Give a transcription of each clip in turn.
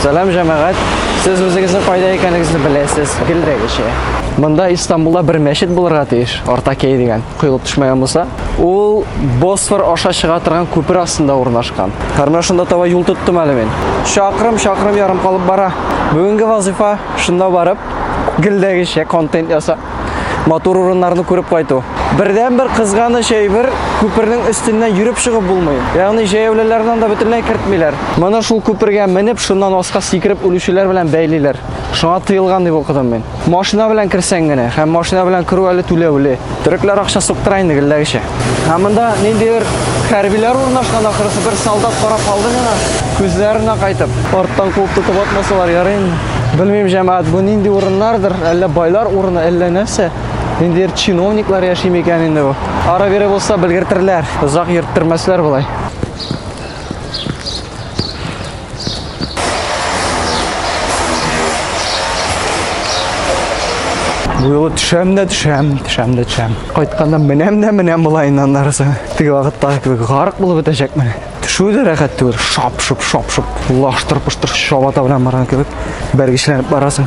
Сәлам җәмәгать. Сез үзегезне кайда икәнегезне беләсез, гелдәгечә. Монда Истанбулда бер мәчет булырга тиеш, Артакей дигән, коелып төшмәгән булса. Ул Босфор аша чыга торган күпер астында урнашкан. Һәр шунда таба юл тоттым әле мин. Чакрым, чакрым ярым калып бара. Бүгенге вазифа шунда барып, гелдәгечә контент ясап, матур урыннарны күреп кайту. Бердән бер кызганыч әйбер, күпернең өстеннән йөреп чыгып булмый. Ягъни җәяүлеләрне да бөтенләй кертмиләр. Моны шул күпергә менеп, шуннан аска сикереп үлүчеләр белән бәйлиләр. Шуңа тыелган дип укыдым мин. Машина белән керсәң генә, һәм машина белән керү әле түләүле. Төрекләр акча суктыра инде, гелләгечә. Ә монда ниндидер хәрбиләр урнашкан ахрысы бер солдат карап калды миңа. Күзләренә кайтып, арттан куып тотып атмасалар ярый инде. Белмим, җәмәгать, бу нинди урыннардыр, әллә байлар урыны, әллә нәрсә? Ниндидер чиновниклар яши микән инде бу? Ара-бире булса белгертерләр, озак йөрттермәсләр болай. Буйлы төшәм дә төшәм, төшәм дә төшәм. Кайтканда менәм дә менәм болайын аннарысы. Теге вакытта кебек гарык булып бетәчәкмен. Төшү дә рәхәт түгел. Шап-шуп, шап-шуп. Лаштыр-пыштыр чабата белән барган кебек. Бәргечләнеп барасың.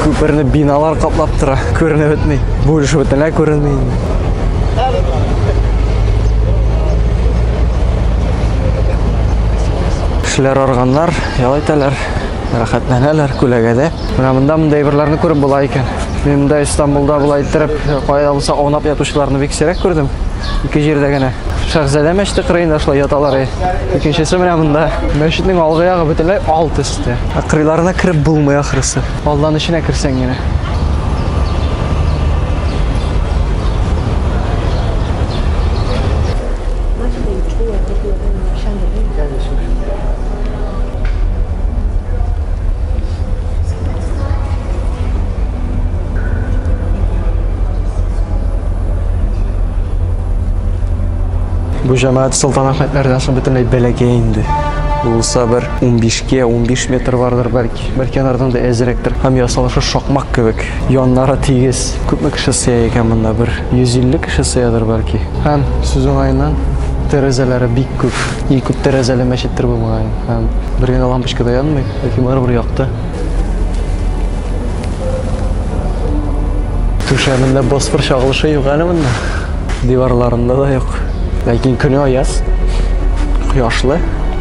Күперне биналар каплап тора. Күренеп бетми. Бу өлеше бөтенләй күренми инде. Кешеләр арганнар, ял итәләр, рәхәтләнәләр күләгәдә. Менә монда мондай әйберләрне күреп була икән. Мин монда Истанбулда була иттереп, кайда булса аунап ятучыларны бик сирәк күрдем. Ике җирдә генә. Шәхзадә мәчете кырыенда шулай яталар. Икенчесе менә монда. Мәчетнең алгы ягы бөтенләй алтыс. китте. Ә кырыйларына кереп булмый ахрысы. Алдан эченә керсәң генә. Бу җәмәгать Солтан Әхмәтләрдән соң бөтенләй бәләкәй инде. Булса бер 15-кә 15 метр бардыр бәлки. Бер кенардан да әзрәктер. Һәм ясалышы шакмак кебек. Яннары тигез. Күпме кеше сыя икән монда? Бер 150 кеше сыядыр бәлки. Һәм сүз уңаеннан тәрәзәләре бик күп. И күп тәрәзәле мәчеттер бу мөгаен. Һәм бер генә лампочка да янмый, ләкин барыбер якты. Түшәмендә босфор чагылышы юк әле монда. Диварларында да юк. Ләкин көне аяз. Кояшлы.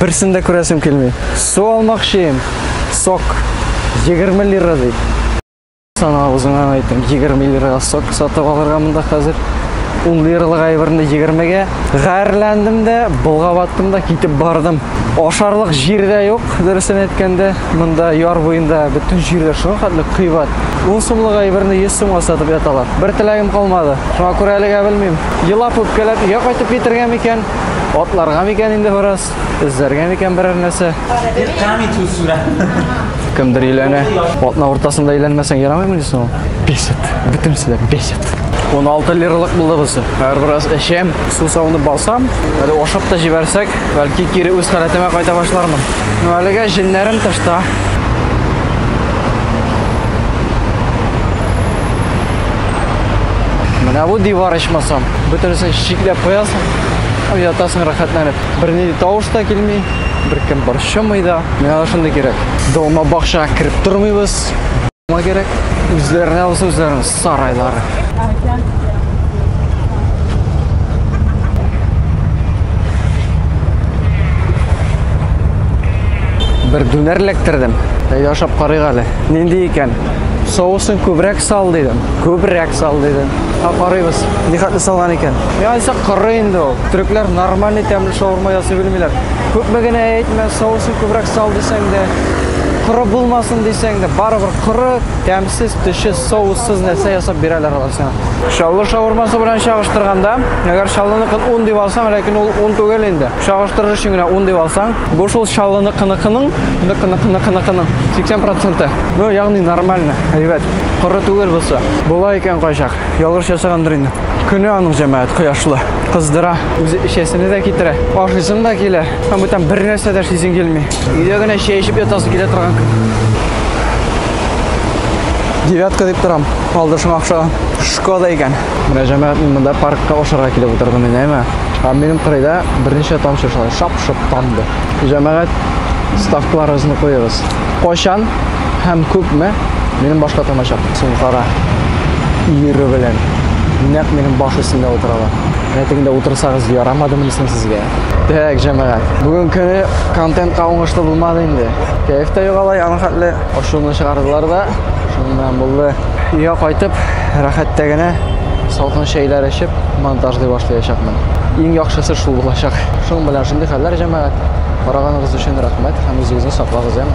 Берсен дә күрәсем килми. Су алмакчыйм. Сок 20 лира ди. Сана үзеңә әйтәм, 20 лирага сок сатып алырга монда хәзер. 10 лиралык әйберне 20-гә. Гарьләндем дә, болгаваттым да китеп бардым. Ашарлык җир дә юк, дөресен әйткәндә. Монда яр буенда бөтен җирләр шуңа хәтле кыйбат. 10 сумлык әйберне 100 сумга сатып яталар. Бер теләгем калмады. Шуңа күрә әлегә белмим. Елап үпкәләп өйгә кайтып китергә микән? Атларга микән инде бераз? Эзләргә микән берәр нәрсә? Кемдер өйләнә. Атна уртасында өйләнмәсәң ярамыймы дисең ул? Бесит. Бөтенесе дә бесит. 16 лиралык булды бусы. Әгәр бераз эчәм, су савынып басам, әле ашап та җибәрсәк, бәлки кире үз халәтемә кайта башлармын. Ну әлегә җеннәрем тышта. Менә бу дивар ичмасам, бөтенесен чикләп куясың. Һәм ятасың рәхәтләнеп. Бернинди тавыш та килми, беркем борчымый да. Миңа шундый кирәк. Дома бакча кереп тормыйбыз. Дома кирәк. Үзләренә булса үзләренең сарайлары. Бер дүнәр эләктердем. Әйдә ашап карыйк әле. Нинди икән? Соусын күбрәк сал дидем. Күбрәк сал дидем. Ха, карыйбыз. Ни хәтле салган икән? Мин айсак коры инде ул. Төрекләр нормальный тәмле шаурма ясый белмиләр. Күпме генә әйтмә, соусын күбрәк сал дисәң дә, коры булмасын дисәң дә, барыбер коры, тәмсез, төче, соуссыз нәрсә ясап бирәләр алар сиңа. Чаллы шаурмасы белән чагыштырганда, әгәр Чаллыныкын ун дип алсаң, ләкин ул ун түгел инде. Чагыштырыр өчен генә ун дип алсаң, бу шул Чаллыныкыныкының, ныкыныкыныкыныкының 80 проценты. Ну, ягъни нормально, әйбәт. Коры түгел бусы. Була икән кайчак. Ялгыш ясагандыр инде. Көне аның җәмәгать кояшлы. Кыздыра. Үзе эчәсене дә китерә. Ашыйсың да килә. Һәм бүтән бер нәрсә дә эшлисең килми. Өйдә генә чәй эчеп ятасы килә торган көн. Девятка дип торам. Алдышың акча. Шкода икән. Менә җәмәгать мин монда паркка ашарга килеп утырдым инде, әйме? Ә минем кырыйда берничә тамчы шулай шап-шоп тамды. Җәмәгать ставкаларыгызны куегыз. Кайчан һәм күпме? Минем башка тамачак, син кара. Ире белән. Нәк минем баш өстендә утыралар. Рәтеңдә утырсагыз ярамадымы соң сезгә? Так, җәмәгать. Бүген көне контентка уңышлы булмады инде. Кәеф тә югала, яны хәтле ошуны чыгардылар да. Шуннан булды. Өйгә кайтып, рәхәттә генә салкын чәйләр эчеп, монтажлый башлаячакмын. Иң яхшысы шул булачак. Шуның белән шундый хәлләр җәмәгать. Караганыгыз өчен рәхмәт. Һәм үзегезне саклагыз, яме?